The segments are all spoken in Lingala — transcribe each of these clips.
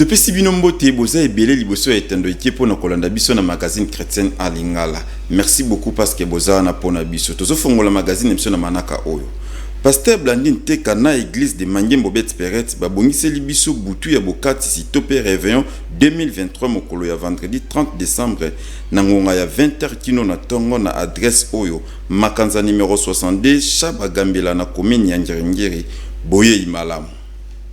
Topesi bino mbote, boza ebele liboso ya etando ike pona kolanda biso na magazine chretienne en lingala. Merci beaucoup parce que boza wana pona biso. Tozo fongola magazine na biso na manaka oyo. Pasteur Blandine Teka na eglise de Mangembo Beth Perrette ba bongiseli biso butu ya bokatisi to pe reveillon 2023 mokolo ya vendredi 30 decembre na ngonga ya 20h kino na tongo na adresse oyo Makanza numero 62 Shaba Gambela na commune ya Ngiri-Ngiri. Boyeyi malamu.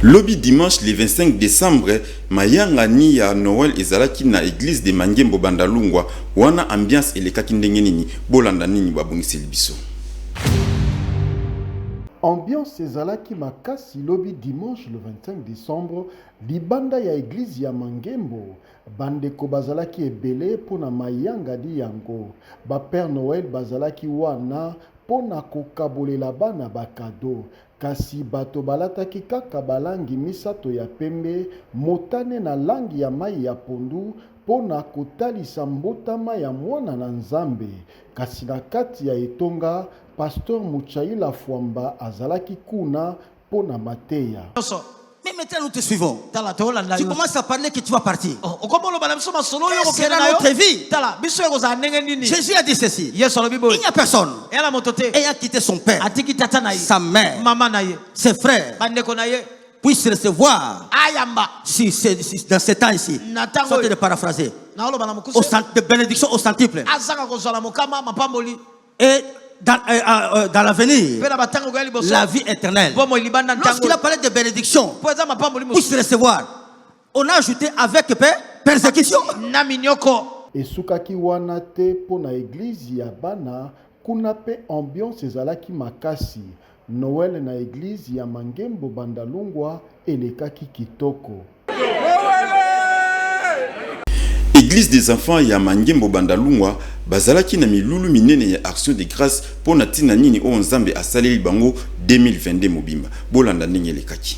Lobi dimanche le 25 decembre, mayangani ya Noël ezalaki na eglise de Mangembo Bandalungwa, wana ambiance elekaki ndenge nini? Bolanda nini babongiseli biso. Ambiance ezalaki makasi lobi dimanche le 25 decembre libanda ya eglise ya Mangembo, ba ndeko bazalaki ebele mpo na mayangani yango. Ba Père Noël bazalaki wana mpo na kokabolela bana ba cadeaux. Kasi bato balataki kaka balangi misato ya pembe, motane na langi ya mayi ya pondu, mpo na kotalisa mbotama ya Mwana na Nzambe. Kasi na kati ya etonga, pasteur Mutshaila Fwamba azalaki kuna mpo na mateya. Mais maintenant nous te suivons. Tala to landa. Tu commences à parler que tu vas partir. Oh, okomolo bala biso masolo yo kokenda na yo. Notre vie. Tala biso yo kozala ndenge nini? Jésus a dit ceci. Yesu alobi boye. Il n'y a personne. Et la moto te. Et a quitté son père. Atiki tata na ye. Sa mère. Maman na ye. Ses frères. Bandeko na ye. Puisse recevoir. Ayamba. Si, si, si dans ce temps ici. Natango. Sorte de paraphraser. Naolo bala mukuse. Au centre de bénédiction au centuple. Azaka kozala mokama mapamboli. Et dans, euh, euh, dans l'avenir, la vie éternelle, lorsqu'il a parlé de bénédiction, pour se recevoir, on a ajouté avec persécution. esukaki wana te mpo na eglize ya bana kuna mpe ambiance ezalaki makasi Noël na eglise ya mangembo bandalungwa elekaki kitoko. Eglise des enfants ya mangembo bandalungwa bazalaki na milulu minene ya action de grace mpo na ntina nini oyo nzambe asaleli bango 2022 mobimba bolanda ndenge elekaki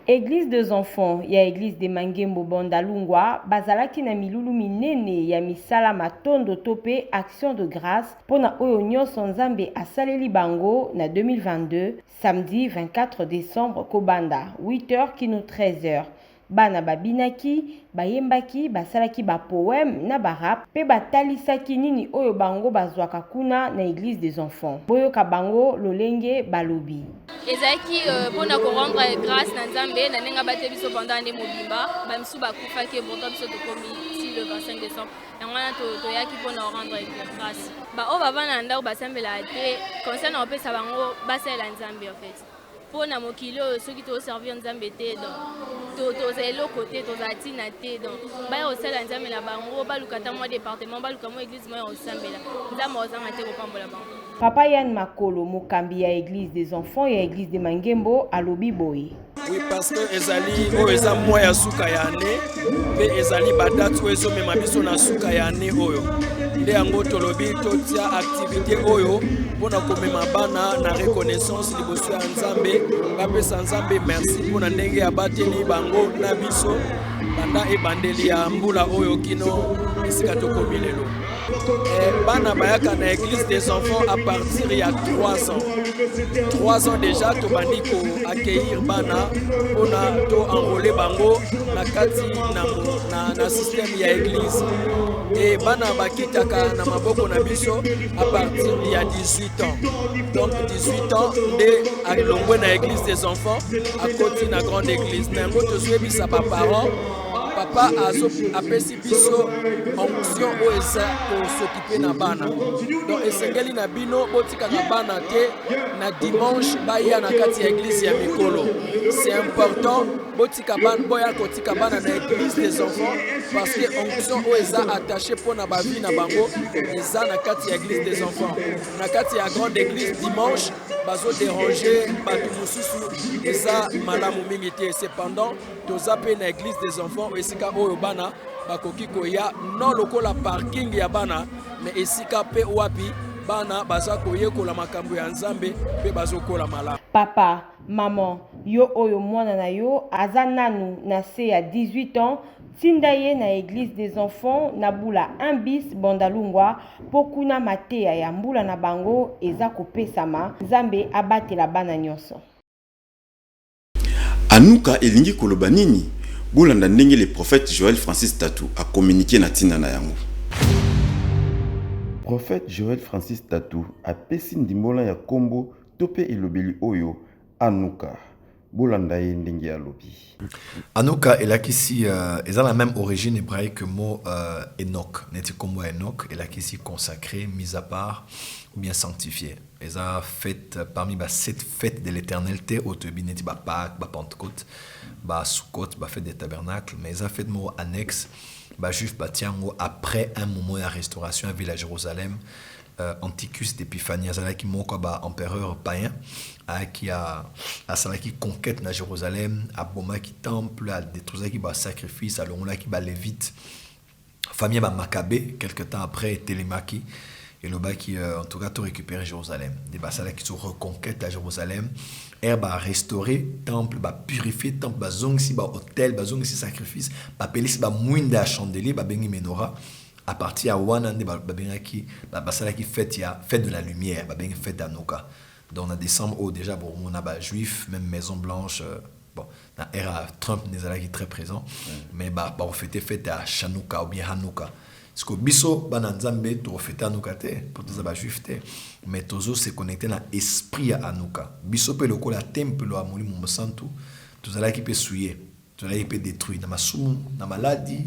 Eglise des enfants ya Eglise de Mangembo Bandalungwa bazalaki na milulu minene ya misala matondo to pe action de grace Mpo na oyo nyonso Nzambe asaleli bango na 2022, samedi 24 decembre kobanda 8 heures kino 13 heures, bana babinaki, bayembaki, basalaki ba poemes na ba rap mpe batalisaki nini oyo bango bazwaka kuna na eglise des enfants. Boyoka bango lolenge balobi. Ezalaki mpo na ko rendre grace na Nzambe na ndenge abateli biso pendant annee mobimba, bamisusu bakufaki et pourtant biso tokomi ti le 25 decembre. yango wana toyaki mpo na orendre grâce baoyo bavanda na ndako basambelaka te conseil na kopesa bango basalela nzambe en fait mpo na mokili oyo soki toservir nzambe te donc toza eloko te toza ntina te donc baya kosala nzambe na bango baluka ata mwa département baluka mwa église moya kosambela nzambe akozanga te kopambola bango papa yan makolo mokambi ya église des enfants ya église de mangembo alobi boye Oui, parce que ezali oyo eza mwa ya suka ya année mpe ezali badate oyo ezomema biso na suka ya année oyo nde yango tolobi totia activité oyo mpo na komema bana na reconnaissance liboso ya nzambe bapesa nzambe merci mpo na ndenge abateli bango na biso banda ebandeli ya mbula oyo kino esika tokomi lelo bana bayaka na église des enfants à partir ya 3 ans 3 ans déjà tobandi ko accueillir bana mpona to enrole bango na kati na, na, na système ya église e bana bakitaka na maboko na biso à partir ya 18 ans donc 18 ans nde alongwe na église des enfants akoti na grande église na yango tozoyebisa baparent papa apesi biso onction oyo eza kosokipe na bana donc esengeli na bino botikaka bana te na dimanche baya na kati ya eglise ya mikolo c'est important botika bana boya kotika bana na eglise des enfants parce que onction oyo eza attaché mpo na bavie na bango eza na kati ya eglise des enfants na kati ya grande église dimanche bazo déranger bato mosusu eza malamu mingi te cependant toza mpe na eglise des enfants esika oyo bana bakoki koya non lokola parking ya bana me esika mpe wapi bana baza koyekola makambo ya nzambe mpe bazokola malamu papa maman yo oyo mwana na yo aza nanu na se ya 18 ans tinda ye na eglise des enfants na bula 1 bis bandalungwa mpo kuna mateya ya mbula na bango eza kopesama nzambe abatela bana nyonso Anuka elingi koloba nini? Bolanda ndenge le prophète Joël Francis Tatu a communiquer na tina na yango. Prophète Joël Francis Tatu apesi ndimbola ya kombo to pe elobeli oyo Anuka. Bolanda ye ndenge alobi. Anuka elakisi, eza na meme origine hebraique que mot Enoch, neti kombo ya Enoch elakisi consacre, mis à part ou bien sanctifie. Eza fete parmi ba sept fetes de l'Eternel te oyo toyebi neti ba Paques, ba Pentecotes, ba Sukkot, ba fetes des Tabernacles mais eza fete moko annexe ba Juifs batie yango après un moment ya restauration ya ville ya Jerusalem. Euh, Anticus d'Epiphanie azalaki moko ya ba empereurs païens ayaki a, asalaki conquête na Jerusalem, abomaki temple, adetruisaki ba sacrifices, alongolaki ba Levites Famille ya ba Makabe, quelque temps après, etelemaki, elobaki, En tout cas, to recuperer Jerusalem. Nde basalaki so reconquete ya Jerusalem, ere ba restaurer temple, ba purifier temple, bazongisi ba hotel, bazongisi sacrifice, bapelisi ba mwinda ya chandelier, babengi menorah. A partir ya wana nde babengaki, basalaki fete ya fete de la lumière, babengi fete d'Hanukkah. Donc na decembre oyo dejà bomona ba juifs, meme Maison Blanche, bon, na era trump nde ezalaki très présent mais bakofete fete ya shanuka ou bien hanuka siko biso bana nzambe tokofete hanuka te mpo toza bajuif te mais tozo se connecte na esprit ya hanuka biso mpe lokola tempelo ya molimo mosantu tozalaki mpe suye tozalaki mpe détruit na masumu na maladi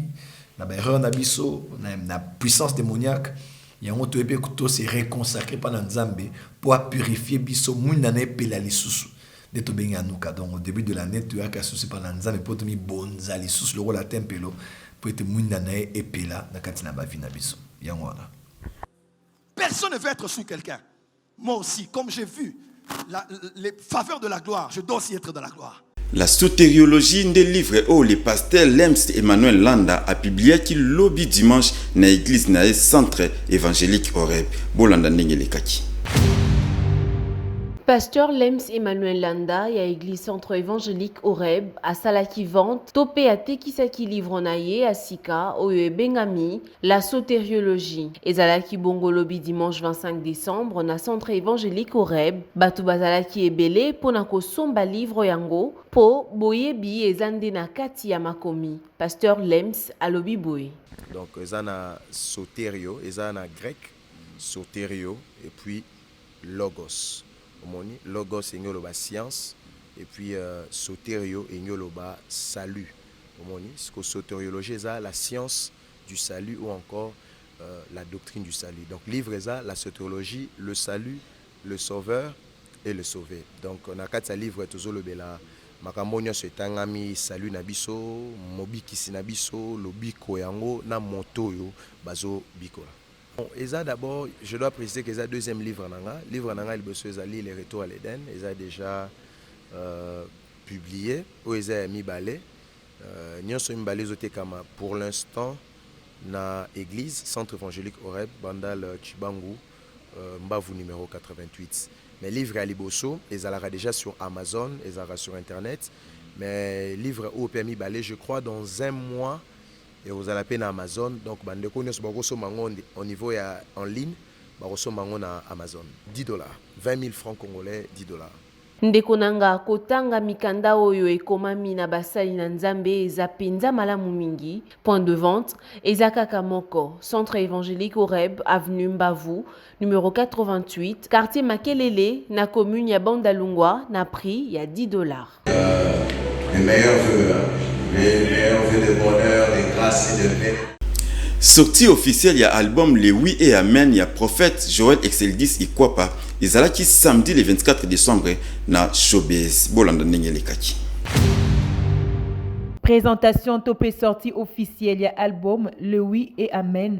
na baerreur na biso na, na puissance démoniaque yango toye mpe tose reconsacre mpa na nzambe mpo apurifie biso mwinda na epela lisusu nde tobengi Hanukkah. Donc au debut de l'annee toyaka lisusu epai na Nzambe mpo tomibonza lisusu lokola tempelo mpo ete mwinda na ye epela na kati na bavi na biso. Yango wana. Personne ne veut être sous quelqu'un. Moi aussi, comme j'ai vu la, les faveurs de la gloire, je dois aussi être dans la gloire. La soteriologie nde livre oyo le pasteur Lems Emmanuel Landa apibliaki lobi dimanche na eglise na ye centre évangélique Oreb. Bolanda ndenge elekaki. Pasteur Lems Emmanuel Landa ya Eglise Centre Evangelique Oreb asalaki vente to pe atekisaki livre na ye ya sika oyo ebengami La Soteriologie. Ezalaki bongo lobi dimanche 25 décembre na Centre Evangelique Oreb. Bato bazalaki ebele mpo na kosomba livre yango mpo boyebi eza nde na kati ya makomi. Pasteur Lems alobi boye. Donc eza na soterio eza na grec soterio et puis Logos. Omoni? Logos elingi koloba science, et puis soterio elingi koloba salut. Omoni? Sikoyo soteriologie eza la science du salut ou encore la doctrine du salut. Donc livre eza la soteriologie, le salut, le sauveur et le sauve. Donc na kati ya livre tozolobela makambo nyonso etangami salut na biso, mobikisi na biso, lobiko yango na moto oyo bazobikola. Bon, eza d'abord, je dois préciser que eza deuxième livre na nga. Livre na nga liboso ezali Le Retour à l'Eden, eza déjà euh, publié, oyo eza ya mibale. Euh, nyonso mibale ezotekama pour l'instant na église Centre évangélique Oreb Bandal euh, Chibangu euh, Mbavu numéro 88. Mais livre ya liboso ezalaka déjà sur Amazon, ezalaka sur internet. Mais livre oyo mpe ya mibale, je crois dans un mois Ekozala pe na Amazon donc ba ndeko nionso bakoki kosomba yango au niveau ya en ligne bakosomba yango na Amazon 10 dollars 20000 francs congolais 10 dollars. Ndeko na nga, kotanga mikanda oyo ekomami na basali na Nzambe eza penza malamu mingi. Point de vente eza kaka moko, Centre Evangelique Horeb, avenue Mbavu, Numero 88, quartier Makelele, na commune ya Banda Lungwa, na prix ya 10 dollars. Euh, les meilleurs vœux, les meilleurs vœux de bonheur, de grâce et de paix. Sortie officielle ya album Le Oui et Amen ya prophète Joël Exeldis Ikwapa ezalaki samedi le 24 décembre na Showbiz. Bolanda ndenge elekaki. Présentation topé sortie officielle ya album Le Oui et Amen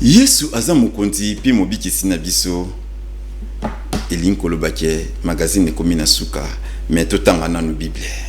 yesu aza mokonzi mpe mobikisi na biso elingi koloba ke magazine ekomi na suka me totanga nanu bible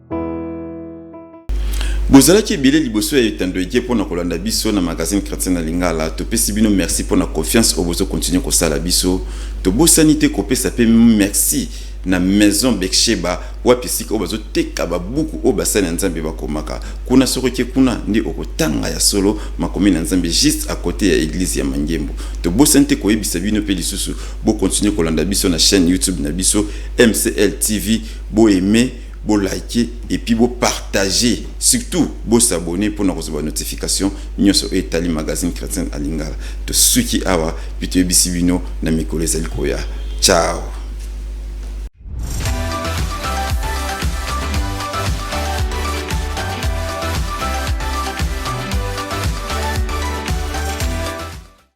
Bozalaki ebele liboso ya etando eke mpo na kolanda biso na magazine chrétien na lingala topesi bino merci mpo na confiance oyo bozo continue kosala biso tobosani te kopesa mpe merci na maison beksheba wapi esika oyo bazoteka babuku oyo basali na nzambe bakomaka kuna soko eke kuna nde okotanga ya solo makomi na nzambe juste à côté ya église ya mangembo tobosani te koyebisa bino mpe lisusu bokontinue kolanda biso na chaîne youtube na biso mcl tv boyeme Bo liker et puis bo partager surtout bo s'abonner pona kozwa ba notification nionso oyo etali magazine chretienne en lingala. Tosuki awa puis toyebisi bino na mikolo ezali koya. Ciao.